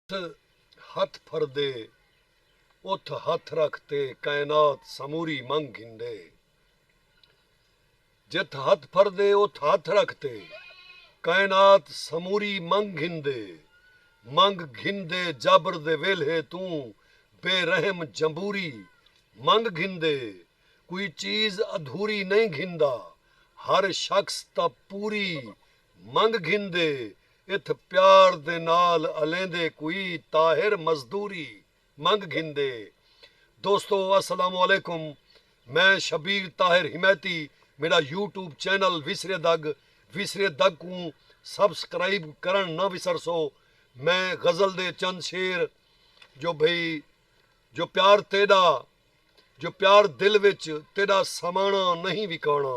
اتھ ہتھ پھردے اتھ ہتھ رکھ تے کائنات سموری منگ گھندے جتھ ہتھ پھردے اتھ ہتھ رکھ تے کائنات سموری منگ گھندے منگ گھندے جبر دے ویلھے توں بے رحم جمبوری منگ گھندے کوئی چیز ادھوری نئیں گھندا ہر شخص تاں پوری منگ گھندے اتھ پیار دے نال الیندے کوئی طاہر مزدوری منگ گھندے دوستو السلام علیکم میں شبیر طاہر حمایتی میڈا یوٹیوب چینل ویسرے دگ ویسرے دگ کوں سبسکرائب کرنڑ نہ وسرسو میں غزل دے چند شعر جو بھئی جو پیار تیڈا جو پیار دل وچ تیڈا سامانا نہیں وکانا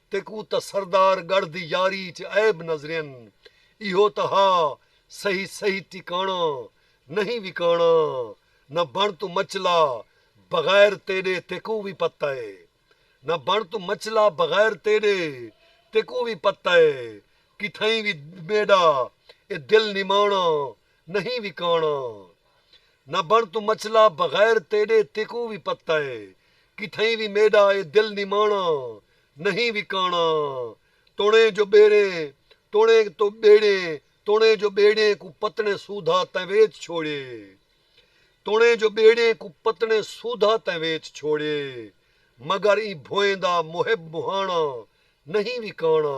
تیکوں تاں سردار گڑھ دی یاری اچ عیب نظرین ایہو تاں ہا سہی سہی ٹکاݨا نئیں وکاݨا نہ بݨ توں مچلا بغیر تیݙے تیکوں وی پتہ اے نہ بݨ توں مچلا بغیر تیݙے تیکوں وی پتہ اے کتھائیں وی میݙا اے دل نماݨا نہیں وکاݨا نہ بݨ توں مچلا بغیر تیݙے تیکوں وی پتہ اے کتھائیں وی میݙا اے دل نماݨا نہیں وکاݨا توݨیں جو ٻیڑیں توݨیں تو ٻیڑیں توݨیں جو ٻیڑیں کوں پتݨیں سودھا تیں ویچ چھوڑیے توݨیں جو ٻیڑیں کوں پتݨیں سودھا تیں ویچ چھوڑیے مگر ایں بھوئیں دا محب مہاݨا نہیں وکاݨا۔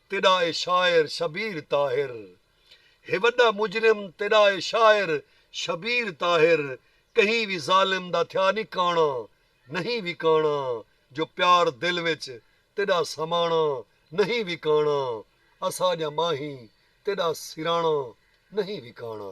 تیݙا اے شاعر شبیر طاہر ہے وݙا مجرم تیݙا اے شاعر شبیر طاہر کہیں وی ظالم دا تھیا نی کاݨا نہیں وکاݨا جو پیار دل وچ تیݙا سماݨا نہیں وکاݨا اساں جاں ماہیں تیݙا سراݨا نہیں وکاݨا۔